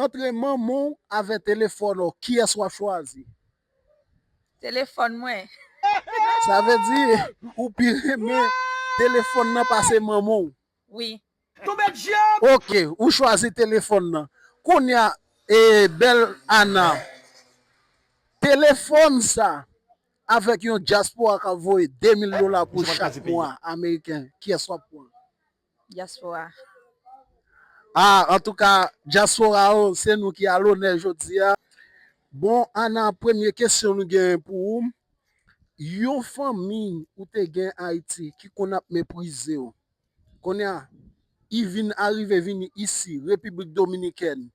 Antre manman w avè telefòn w kiyès wap chwazi? Telefòn mwen. Sa vle di ou pi renmen telefòn nan pase manman w? Wi. Tonbe dyab! Ok ou chwazi telefòn nan. Kounya e bèl Ana telefòn sa avèk yon dyaspora kap voye 2000 dola pou chak mwa ameriken kiyès wap pran? Dyaspora. Ah antouka dyaspora oh se nou ki alonè jodia bon Ana premye kesyon nou gen pou ou yon fanmi ou te gen ayiti ki konn ap meprizew konnya i vin arive vini isi repiblik dominikèn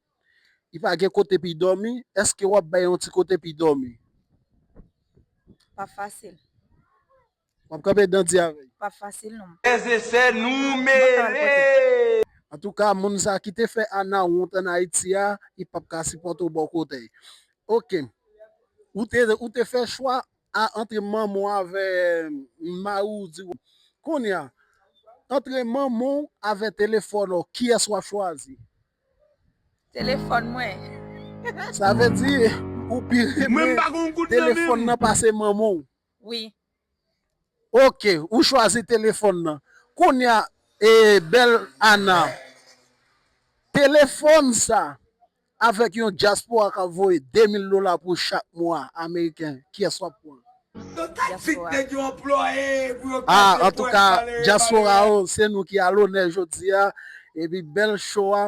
i pa gen kote pi dòmi eske wap bay yon ti kote pi dòmi. Pa fasil Wap kanpe dan di avè yo. Pap fasil non. Frè e sè nou mele. Antouka moun sa ki te fè Ana wont an Ayiti a li pap ka sipòte w bò kote y ok ou te fè chwa a antre manman w avè mari w di w kounya antre manman w avè telefòn w kiyès wap chwazi? Telefòn mwen. Sa vle di ou pi renmen telefòn nan pase manman w. wi. Ok ou chwazi telefon nan. Kounya ee bel Ana. Telefon sa avek yon diaspora kap voye 2000 dola pou chak mwa ameriken kiyes wap pwan. Yo ta k vide neg yo anplwaye pou yo ka jwe prank malere diaspora yo se nou ki alonè jodia epi bel show a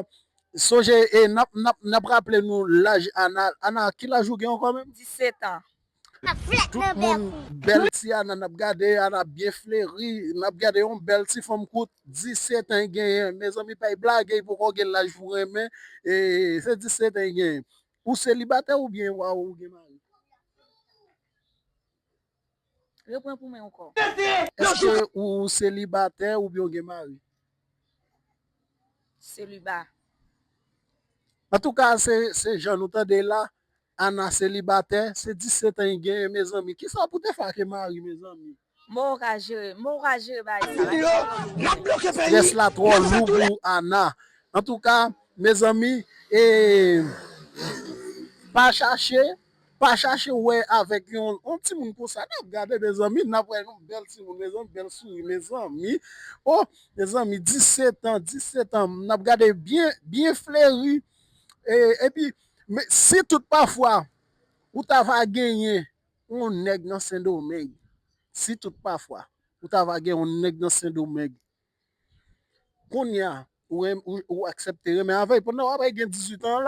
sonje nap raple nou laj Ana Ana ki laj ou gen ankò menm. 17 ans. Tout moun bèl ti ana nap gade ana byen fleri nap gade yon bèl ti fanm kout 17 an genyen mezanmi bay blage li poko gen laj pou renmen se 17 an genyen ou selibatè oubyen wa ou gen mari eske ou selibatè oubyen ou gen mari antouka se jan nou tande la Ana selibatè se 17 an i genyen mezanmi kisa pou te fè ake mari mezanmi. Mò ou ka jere, mò ou ka jere bagay sa la kisa map di la. Stress la trò lou pou Ana. Antouka mezanmi pa chache pa chache wè avèk yon timoun konsa nap gade mezanmi nap wè yon bèl timoun mezanmi bèl souri mezanmi oh mezanmi 17 ans 17 ans nap gade byen byen fleri epi Men si tout pafwa ou ta va genyen yon nèg nan sendomeng, si tout pafwa ou ta va gen yon nèg nan sendomeng, kounya ou aksepte renmen avèl pandan wap gen 18 ans la.